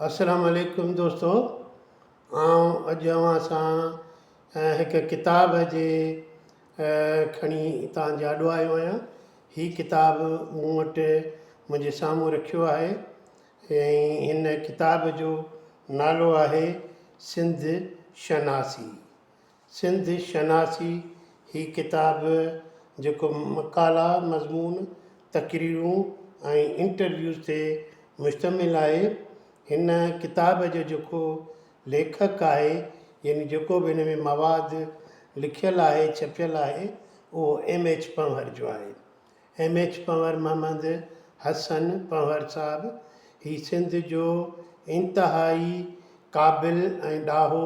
السلام عليڪم دوستو آئون اڄ اوهان سان هڪ ڪتاب جي کڻي توهان جي آڏو آيو آهيان هي ڪتاب مون وٽ منهنجي سامهون رکيو آهي ۽ هن ڪتاب جو نالو آهي سنڌ شناسي سنڌ شناسي، هي ڪتاب جيڪو مقالا، مضمون، تقريرون ۽ انٽرويوز تي مشتمل آهي. هن ڪتاب جو جيڪو ليکڪ آهي يعني جيڪو به هن ۾ مواد لکيل آهي، ڇپيل آهي اهو ايم ايڇ پنهور جو آهي. ايم ايڇ پنهور محمد حسن پنهور صاحب هي سنڌ جو انتهائي قابل ۽ ڏاهو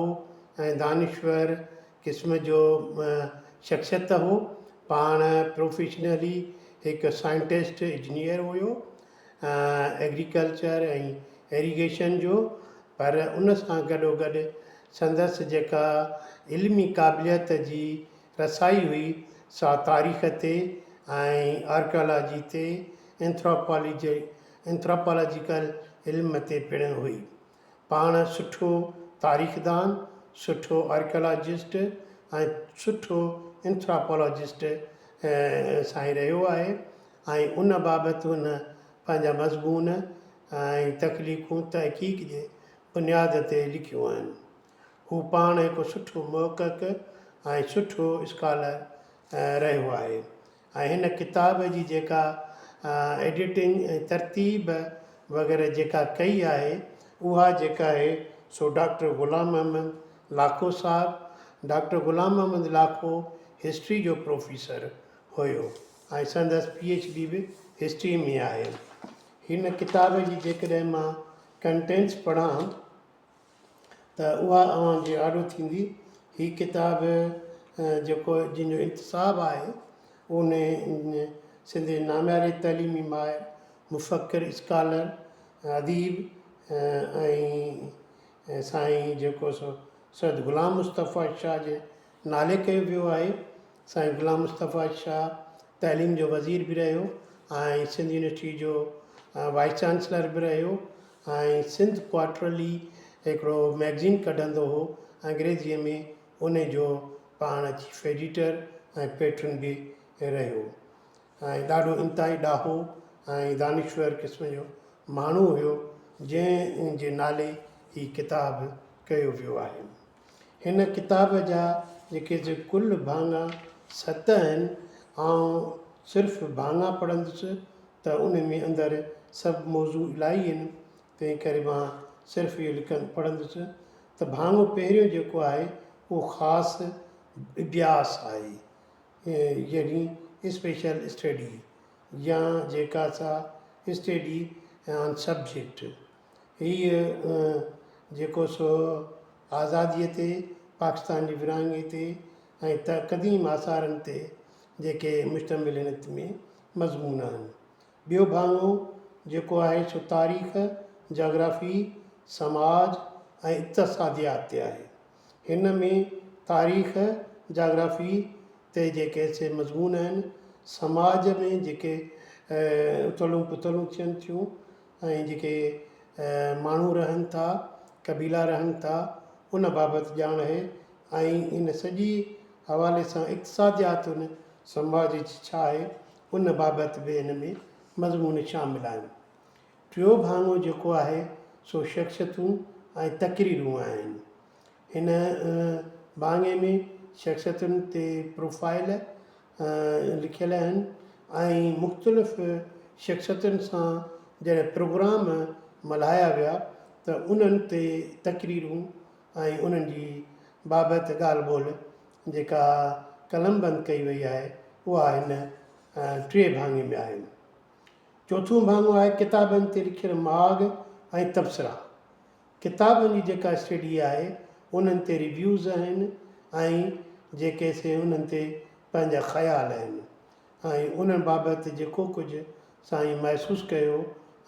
۽ دانشور قسم جو شخصيت هو پاڻ پروفيشنلي هڪ سائنٽسٽ اجنيئر هيو ايگريڪلچر ۽ ايريگيشن جو پر ان سان گڏوگڏ سندس جيڪا علمي قابليت جي رسائي هئي سا تاريخ تي ۽ آرڪيالاجي تي اينٿراپالاجيڪل علم تي پڻ هئي. پاڻ سٺو تاريخدان، سٺو آرڪيالاجسٽ ۽ سٺو اينٿراپالاجسٽ سائين رهيو آهي ۽ ان بابت هن پنهنجا مضمون ۽ تخليقون تحقيق جي بنياد تي لکيون آهن. هو پاڻ هڪ سٺو محقق ۽ سٺو اسڪالر رهيو آهي ۽ هن ڪتاب جي جيڪا ايڊيٽنگ ۽ ترتيب وغيره جيڪا ڪئي آهي اها جيڪا آهي سو ڊاڪٽر غلام محمد لاکو صاحب ڊاڪٽر غلام محمد لاکو هسٽري جو پروفيسر هيو ۽ سندس پي ايڇ ڊي به هسٽري ۾ آهي هن ڪتاب جي جيڪڏهن مان ڪنٽينٽس پڙهان ته اها اوهان جي آڏو ٿيندي. هي ڪتاب جيڪو جن جو انتساب آهي اون سنڌ جي نامياري تعليمي ماهر، مفڪر، اسڪالر، اديب ۽ سائين جيڪو سو سيد غلام مصطفيٰ شاهه جي نالي ڪيو ويو آهي سائين غلام مصطفيٰ شاهه تعليم جو وزير به رهيو ۽ سنڌ يونيورسٽي جو وائيس چانسلر به رهيو ۽ سنڌ ڪوارٽرلي هڪڙو مئگزين ڪڍندو هو انگريزيء ۾ ان جو پاڻ چيف ايڊيٽر ۽ پيٽرن به رهيو ۽ ڏاڍو انتهائي ڏاهو ۽ دانشور قسم جو ماڻهو هيو جنهن جي نالي هي ڪتاب ڪيو ويو آهي هن ڪتاب جا جيڪي جي ڪل ڀاڱا ست آهن، آئون صرف ڀاڱا پڙهندس ته ان ۾ اندر سڀ موضوع الائي آهن، تنهن ڪري مان صرف اهو لکن پڙهندس ته ڀاڱو پهريون جيڪو آهي اهو خاص اڀياس آهي، يعني Special Study، يا جيڪا سا Study on Subject. هيء جيڪو سو آزاديء تي، پاڪستان جي ورهاڱي تي ۽ ته قديم آثارن تي جيڪي مشتمل هن ات ۾ مضمون آهن. ٻيو ڀاڱو جيڪو آهي سو تاريخ، جاگرافي، سماج ۽ اقتصاديات تي آهي. هن ۾ تاريخ، جاگرافي تي جيڪي سي مضمون آهن، سماج ۾ جيڪي اٿلون پٿلون ٿين ٿيون، ۽ جيڪي ماڻهو رهن ٿا، قبيلا رهن ٿا، ان بابت ڄاڻ اهي ۽ ان سڄي حوالي سان اقتصاديات ان سماج جي ڇا آهي، ان بابت به ان ۾ مضمون شامل آهن. ٽيون ڀاڱو جيڪو آهي سو شخصيتون ۽ تقريرون آهن. هن ڀاڱي ۾ شخصيتن تي پروفائيل لکيل آهن ۽ مختلف شخصيتن سان جڏهن پروگرام ملهايا ويا ته انهن تي تقريرون ۽ انهن جي بابت ڳالهه ٻولهه جيڪا قلمبند ڪئي وئي آهي اها هن ٽئين ڀاڱي ۾ آهي. چوٿون ڀاڱو آهي ڪتابن تي لکيل ماڳ ۽ تبصرا. ڪتابن جي جيڪا اسٽڊي آهي انهن تي ريويوز آهن ۽ جيڪي سي انهن تي پنهنجا خيال آهن ۽ انهن بابت جيڪو ڪجهه سائين محسوس ڪيو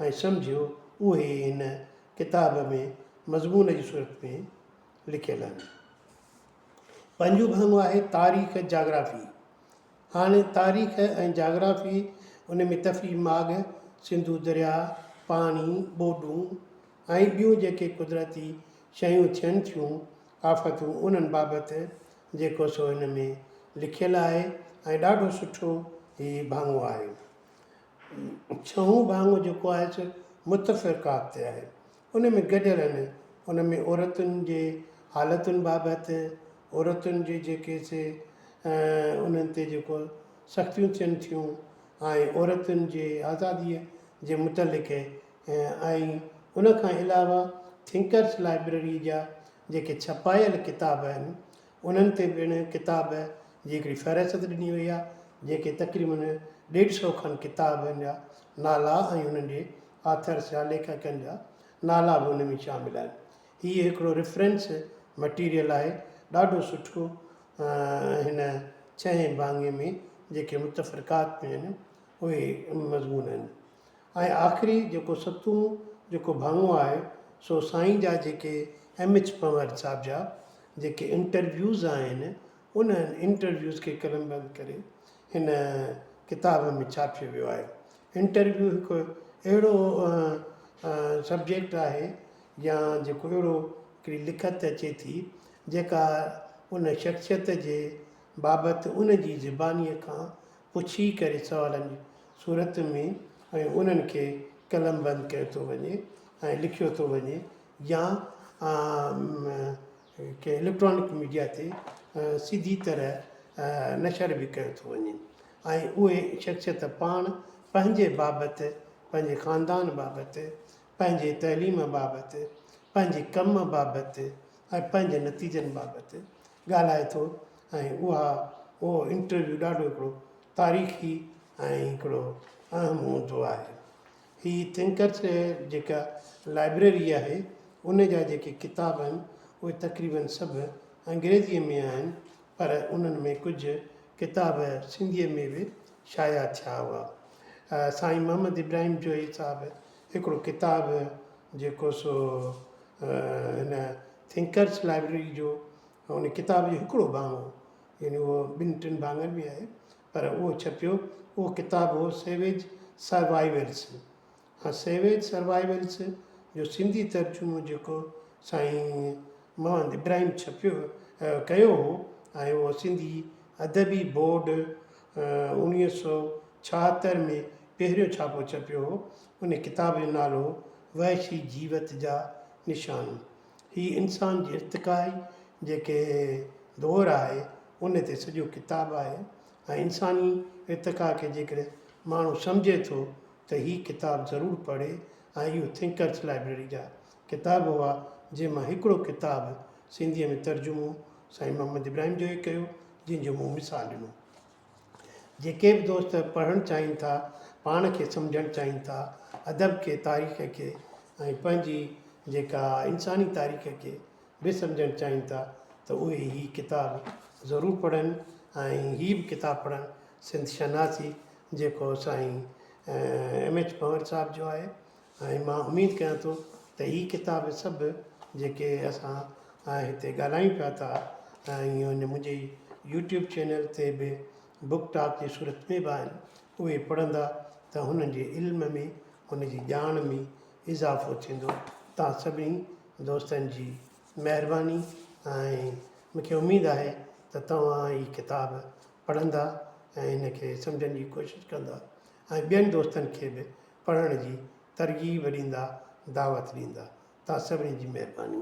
۽ سمجهيو اهي هن ڪتاب ۾ مضمون جي صورت ۾ لکيل آهن. پنجون ڀاڱو آهي تاريخ جاگرافي. هاڻ تاريخ ۽ جاگرافي ان ۾ تفريح ماڳ، سنڌو درياء، پاڻي، ٻوڏون، ۽ ٻيون جيڪي قدرتي شيون ٿين ٿيون، آفتون، انهن بابت جيڪو سو هن ۾ لکيل آهي ۽ ڏاڍو سٺو هي ڀاڱو آهي. ڇهون ڀاڱو جيڪو آهي سو متفرقات تي آهي. ان ۾ گڏيل آهن. ان ۾ عورتن جي حالتن بابت، عورتن جي جيڪي سي انهن تي جيڪو سختيون ٿين ٿيون ۽ عورتن جي آزاديء جي متعلق آهي ۽ ان کان علاوه ٿنڪرس لائبريري جا جيڪي ڇپايل ڪتاب آهن انهن تي پڻ ڪتاب جي هڪڙي فهرست ڏني وئي آهي جيڪي تقريباً ڏيڍ سئو کن ڪتابن جا نالا ۽ انهن جي آٿرس يا ليکڪن جا نالا به ان ۾ شامل آهن هي هڪڙو ريفرنس مٽيريل آهي ڏاڍو سٺو هن ڇهين ڀاڱي ۾ جيڪي متفرقات ۾ آهن اهي مضمون آهن ۽ آخري جيڪو ستون جيڪو ڀاڱو آهي سو سائين جا جيڪي ايم ايڇ پنهور صاحب جا جيڪي انٽرويوز آهن انهن انٽرويوز کي قلم بند ڪري هن ڪتاب ۾ ڇاپيو ويو آهي انٽرويو هڪ اهڙو سبجيڪٽ آهي يا جيڪو اهڙو هڪڙي لکت اچي ٿي جيڪا ان شخصيت جي بابت ان جي زبانيء کان پڇي ڪري سوالن جي صورت ۾ ۽ انهن کي قلم بند ڪيو ٿو وڃي ۽ لکيو ٿو وڃي يا ڪنهن اليڪٽرانڪ ميڊيا تي سڌي طرح نشر به ڪيو ٿو وڃي ۽ اهي شخصيت پاڻ پنهنجي بابت پنهنجي خاندان بابت پنهنجي تعليم بابت پنهنجي ڪم بابت ۽ پنهنجي نتيجن بابت ڳالهائي ٿو ۽ اها اهو انٽرويو ڏاڍو هڪڙو تاريخي ۽ هڪڙو اهم هوندو آهي هي ٿنڪرس جي جيڪا لائبريري آهي ان جا جيڪي ڪتاب آهن اهي تقريبن سڀ انگريزيء ۾ آهن پر انهن ۾ ڪجهه ڪتاب سنڌيء ۾ به شايع ٿيا هئا سائين محمد ابراهيم جويي صاحب هڪڙو ڪتاب جيڪو سو هن ٿنڪرس لائبرري جو ان ڪتاب جو هڪڙو ڀاڱو هو يعني اهو ٻن ٽن ڀاڱن ۾ آهي پر اهو ڇپيو اهو ڪتاب هو سيويج سروائيولس ها سيويج سروائيولس جو سنڌي ترجمو جيڪو سائين محمد ابراهيم ڇپيو ڪيو هو ۽ اهو سنڌي ادبي بورڊ اڻويهه سؤ ڇاهتر ۾ پهريون ڇاپو ڇپيو هو ان ڪتاب جو نالو هو وحشي جيوت جا نشان هي انسان جي ارتقائي جيڪي دور آهي ان تي سڄو ڪتاب آهي ۽ انساني ارتقا کي جيڪڏهن ماڻهو سمجهي ٿو ته هي ڪتاب ضرور پڙهي ۽ اهو ٿنڪرس لائبريري جا ڪتاب هئا جنهن مان هڪڙو ڪتاب سنڌي ۾ ترجمو سائين محمد ابراهيم جو هي ڪيو جنهن جو مون مثال ڏنو. جيڪي به دوست پڙهڻ چاهين ٿا، پاڻ کي سمجهڻ چاهين ٿا، ادب کي، تاريخ کي ۽ پنهنجي جيڪا انساني تاريخ کي به سمجهڻ چاهين ٿا ته اهي هي ڪتاب ضرور پڙهن ۽ هي به ڪتاب پڙهن سنڌ شناسي جيڪو سائين ايم ايڇ پنور صاحب جو آهي ۽ مان اميد ڪيان ٿو ته هي ڪتاب سڀ جيڪي اسان هتي ڳالهايون پيا ٿا ۽ هن منهنجي يوٽيوب چينل تي به بوڪ ٽاڪ جي صورت ۾ به آهن اهي پڙهندا ته هنن جي علم ۾ هن جي ڄاڻ ۾ اضافو ٿيندو توهان سڀني دوستن جي مهرباني ۽ مونکي اميد آهي ته توهان هي ڪتاب پڙهندا ۽ هن کي سمجهڻ جي ڪوشش ڪندا ۽ ٻين دوستن کي به پڙهڻ جي ترغيب ڏيندا دعوت ڏيندا تان سڀني جي مهرباني.